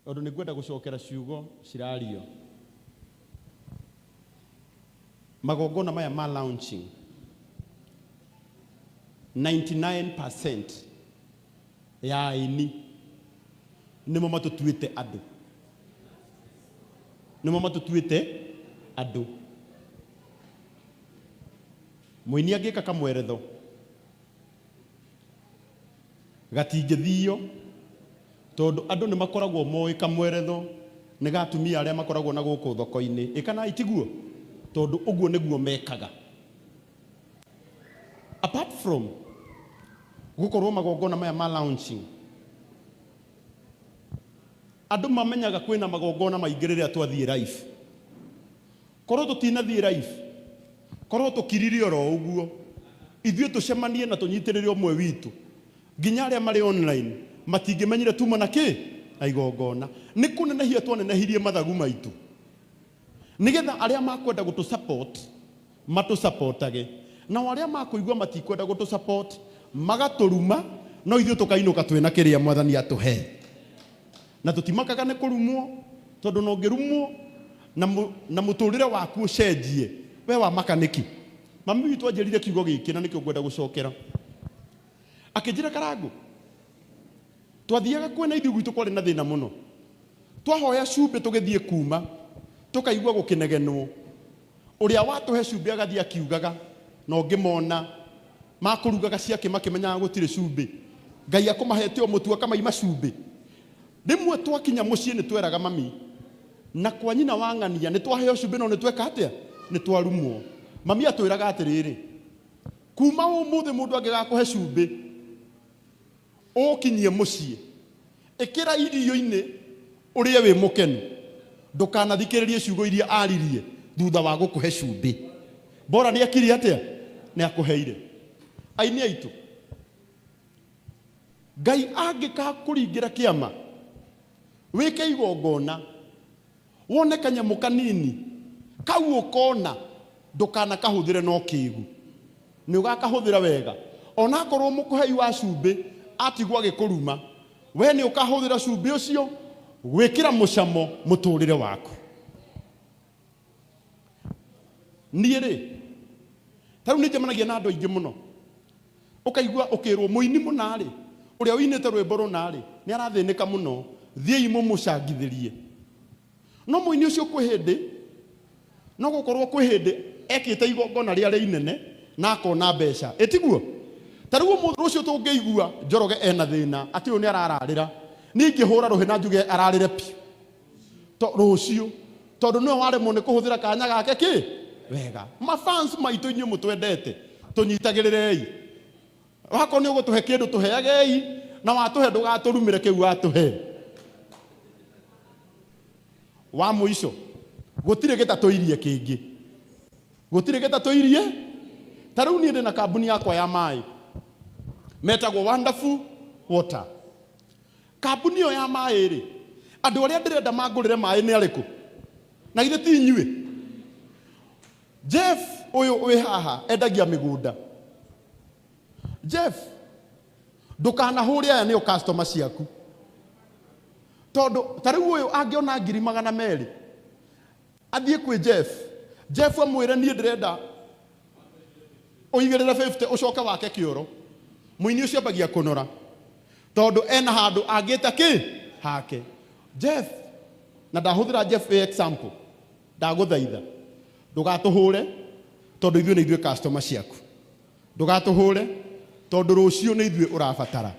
tondũ nĩ ngwenda gũcokera ciugo cirario. Magongona maya ma launching 99% ya aini nĩmo matũtuĩte andũ, nĩmo matũtuĩte andũ. Mũini angĩka kamweretho Gatingĩthio tondũ andũ nĩ makoragwo moĩ kamweretho nĩ ga atumia arĩa makoragwo na gũkũ thoko-inĩ. Ĩkanaĩ tiguo? Tondũ ũguo nĩguo mekaga. Apart from gũkorwo magongona maya ma launching, andũ mamenyaga kwĩna magongona maingĩ rĩrĩa twathiĩ live. Korũo tũtinathiĩ live, korũo tũkirire o ro ũguo, ithuĩ tũcemanie na tũnyitĩrĩre ũmwe witũ, nginya arĩa marĩ online matingĩmenyire tuuma na kĩ? Na igongona. Nĩ kũnenehia twanenehirie mathagu maitũ, nĩgetha arĩa makwenda gũtũ support matũ supportage, nao arĩa makũigua matikwenda gũtũ support magatũruma, no ithuĩ tũkainũka twĩna kĩrĩa Mwathani atũhe. Na tũtimakaga nĩ kũrumwo, tondũ ona ũngĩrumwo na na mũtũrĩre waku ũcenjie, we wamaka nĩkĩ? Mami witũ anjĩrire kiugo gĩkĩ na nĩkĩo ngwenda gũcokera. Akĩnjĩra Karangũ, twathiaga kuo na ithuĩ gwitũ kwarĩ na thĩna mũno. Twahoya cumbĩ tũgĩthiĩ kuuma, tũkaigua gũkĩnegenwo. Ũrĩa watũhe cumbĩ agathiĩ akiugaga, no ngĩmona makũrugaga ciakĩ makĩmenyaga gũtirĩ cumbĩ. Ngai akũmahete o mũtu akamaima cumbĩ. Rĩmwe twakinya mũciĩ nĩ tweraga mami, na kwa nyina wa ng'ania, nĩ twaheo cumbĩ no nĩ tweka atĩa? Nĩ twarumwo. Mami atwĩraga atĩrĩrĩ, Kuuma ũmũthĩ mũndũ angĩgakũhe cumbĩ, Ũũkinyie mũciĩ, ĩkĩra irio-inĩ ũrĩe wĩ mũkenu. Ndũkanathikĩrĩrie ciugo iria aaririe thutha wa gũkũhe cumbĩ. Bora nĩ ekire atĩa? Nĩ akũheire. Aini aitũ, Ngai angĩgakũringĩra kĩama, wĩke igongona. Wone kanyamũ kanini kau ũkona ndũkanakahũthĩre na ũkĩgu. Nĩ ũgakahũthĩra wega. O na akorũo mũkũhei wa cumbĩ atigwo agĩkũruma, wee nĩ ũkahũthĩra cumbĩ ũcio gwĩkĩra mũcamo mũtũũrĩre waku. Niĩ-rĩ, ta rĩu nĩ njemanagia na andũ aingĩ mũno. Ũkaigua ũkĩĩrũo, Mũini mũna-rĩ, ũrĩa ũinĩte rwĩmbo rũna-rĩ, nĩ arathĩnĩka mũno. Thiĩi mũmũcangithĩrie. No mũini ũcio kwĩ hĩndĩ, no gũkorũo kwĩ hĩndĩ ekĩte igongona rĩa rĩa inene na akona mbeca. Ĩ tiguo? Ta rĩu ũmũthĩ, rũciũ tũngĩigua Njoroge e na thĩna atĩ ũyũ nĩ arararĩra, niĩ ingĩhũra rũhĩ na njuge ararĩre biũ. to rũciũ tondũ nĩwe waremwo nĩ kũhũthĩra kanya gake kĩ wega mafans maitũ inyuĩ mũtwendete tũnyitagĩrĩrei wakorwo nĩ ũgũtũhe kĩndũ tũheagei na watũhe ndũgatũrumĩre kĩu watũhe wa mũico gũtirĩ gĩtatũirie kĩngĩ gũtirĩ gĩtatũirie ta rĩu niĩ ndĩ na kambuni yakwa ya maĩ metagwo wonderful water Kambuni ĩyo ya maĩ-rĩ, andũ arĩa ndĩrenda mangũrĩre maĩ nĩ arĩkũ? Na githĩ ti inyuĩ? Jeff ũyũ wĩ haha endagia mĩgũnda. Jeff, ndũkanahũre aya nĩo customer ciaku. Tondũ ta rĩu ũyũ angĩona ngiri magana merĩ, Athiĩ kwĩ Jeff. Jeff amwĩre, Niĩ ndĩrenda ũigĩrĩre fifty ũcoke wake kĩoro. Mũini ũcio ambagia kũnora tondũ ena handũ angĩta kĩ? Hake. Jeff, na ndahũthĩra Jeff wĩ example, ndagũthaitha ndũgatũhũre tondũ ithuĩ nĩ ithuĩ customer ciaku. Ndũgatũhũre tondũ rũciũ nĩ ithuĩ ũrabatara.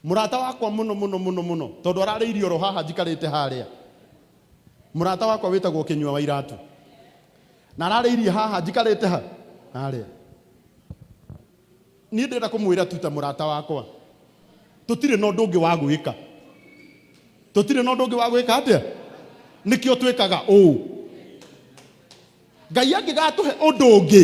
Mũrata wakwa mũno mũno mũno mũno tondũ ararĩirie oro haha njikarĩte harĩa. Mũrata wakwa wĩtagwo Kĩnyua wa iratũ. Na ararĩirie haha njikarĩte ha? Harĩa. Niĩ ndĩrenda kũmwĩra tu ta mũrata wakwa. Tũtirĩ na ũndũ ũngĩ wa gwĩka. Tũtirĩ na ũndũ ũngĩ wa gwĩka atĩa? Nĩkĩo twĩkaga ũũ. Ngai angĩgatũhe ũndũ ũngĩ.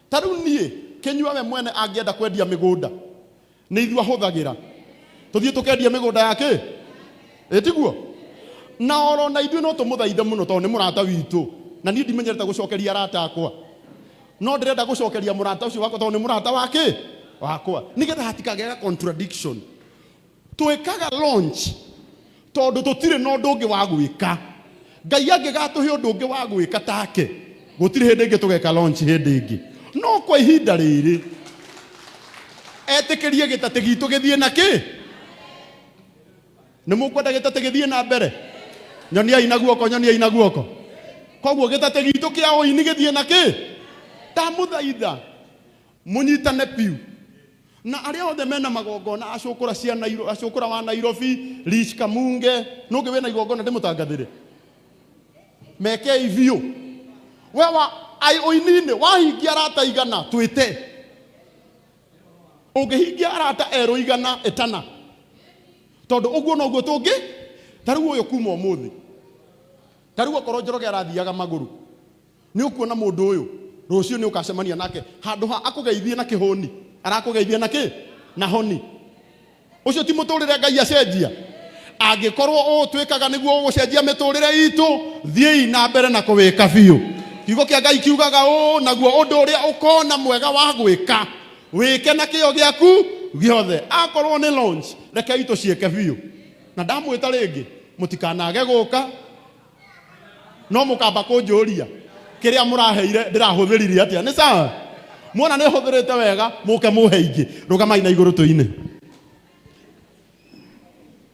Ta rĩu niĩ kĩnyua we mwene angĩenda kwendia mĩgũnda nĩ ithuĩ ahũthagĩra tũthiĩ tũkendie mĩgũnda ya kĩ ĩtiguo na oro na ithuĩ no tũmũthaithe mũno tondũ nĩ mũrata witũ na niĩ ndimenyerete gũcokeria arata akwa no ndĩrenda gũcokeria mũrata ũcio wakwa tondũ nĩ mũrata wa kĩ wakwa nĩgetha hatikagĩaga contradiction twĩkaga launch tondũ tũtirĩ na ũndũ ũngĩ wa gwĩka ngai angĩgatũhe ũndũ ũngĩ wa gwĩka take gũtirĩ hĩndĩ ĩngĩ tũgeka launch hĩndĩ ĩngĩ no kwa ihinda rĩrĩ etĩkĩrie gĩtatĩ gitũ gĩthiĩ na kĩ nĩ mũkwenda gĩtatĩ gĩthiĩ na mbere nyoniai na guoko nyoniai na guoko koguo gĩtatĩ gitũ kĩa ũini gĩthiĩ na kĩ ndamũthaitha Mũnyitane biũ. Na arĩa othe mena magongona acũkũra cia Nairo, acũkũra wa Nairobi, Rich Kamunge, nũngĩ wĩna igongona ndĩmũtangathĩre. Mekei biũ. We wa ai ũininĩ wahingia arata igana twĩte. Ũngĩhingia arata erũ igana ĩtana. Tondũ ũguo noguo tũngĩ tarĩu ũyũ kuma ũmũthĩ. Tarĩu okorwo Njoroge arathiaga magũrũ. Nĩ ũkuona mũndũ ũyũ? Rũciũ nĩ ũkacemania nake. Handũ ha akũgeithie na kĩhũni, arakũgeithia na kĩ? Na honi. Ũcio ti mũtũrĩre Ngai acenjia? Angĩkorwo ũũ twĩkaga nĩguo ũgũcenjia mĩtũrĩre itũ, thiĩi na mbere na kũwĩka biũ. Kiugo kĩa Ngai kiugaga ũũ, Naguo ũndũ ũrĩa ũkona mwega wa gwĩka, wĩke na kĩyo gĩaku gĩothe. Akorwo nĩ launch, rekei tũciĩke biũ. Na ndamwĩta rĩngĩ, mũtikanage gũka. no mũkamba kũnjũria kĩrĩa mũraheire ndĩrahũthĩrire atĩa nĩ sawa muona nĩ hũthĩrĩte wega mũke mũhe ingĩ rũgamai na igũrũ tũine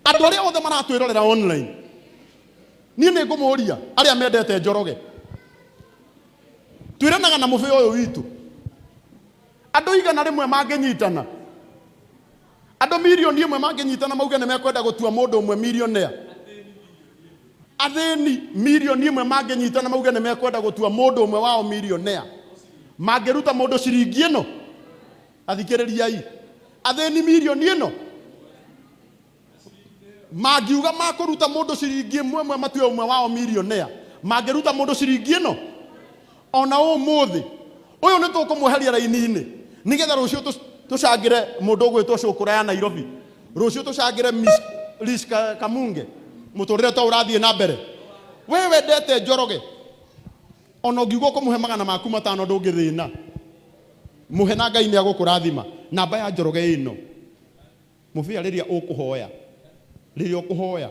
andũ arĩa othe maratwĩrorera online niĩ nĩ ngũmũria arĩa mendete njoroge twĩranaga na mũbĩ ũyũ witũ andũ igana rĩmwe mangĩnyitana Andũ milioni ĩmwe mangĩnyitana mauge nĩ mekwenda gũtua mũndũ ũmwe milionea. Athĩni milioni ĩmwe mangĩnyitana mauge nĩ mekwenda gũtua mũndũ ũmwe wao milionea. Mangĩruta mũndũ ciringi ĩno, athikĩrĩriai, athĩni milioni ĩno mangiuga makũruta mũndũ ciringi ĩmwe ĩmwe matue ũmwe wao milionea, mangĩruta mũndũ ciringi ĩno ona ũmũthĩ ũyũ nĩ tũkũmweheria raini-inĩ nĩgetha rũciũ tũ- tũcangĩre mũndũ ũgwĩtwo cũkũra ya nairobi rũciũ tũcangĩre Miss Liz Ka- kamunge mũtũrĩre to ũrathiĩ na mbere we wendete njoroge ona ũngiuga ũkũmũhe magana maku matano ndũngĩthĩna mũhe na ngai nĩ agũkũrathima namba ya njoroge ĩno Mũbĩa rĩrĩa ũkũhoya, rĩrĩa ũkũhoya,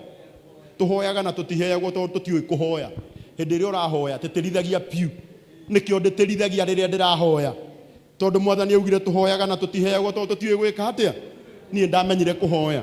tũhoyaga na tũtiheagwo tondũ tũtiũĩ kũhoya. Hĩndĩ ĩrĩa ũrahoya tĩtĩrithagia biũ. Nĩkĩo ndĩtĩrithagia rĩrĩa ndĩrahoya tondũ Mwathani augire tũhoyaga na tũtiheagwo tondũ tũtiũĩ gwĩka atĩa? Niĩ ndamenyire kũhoya.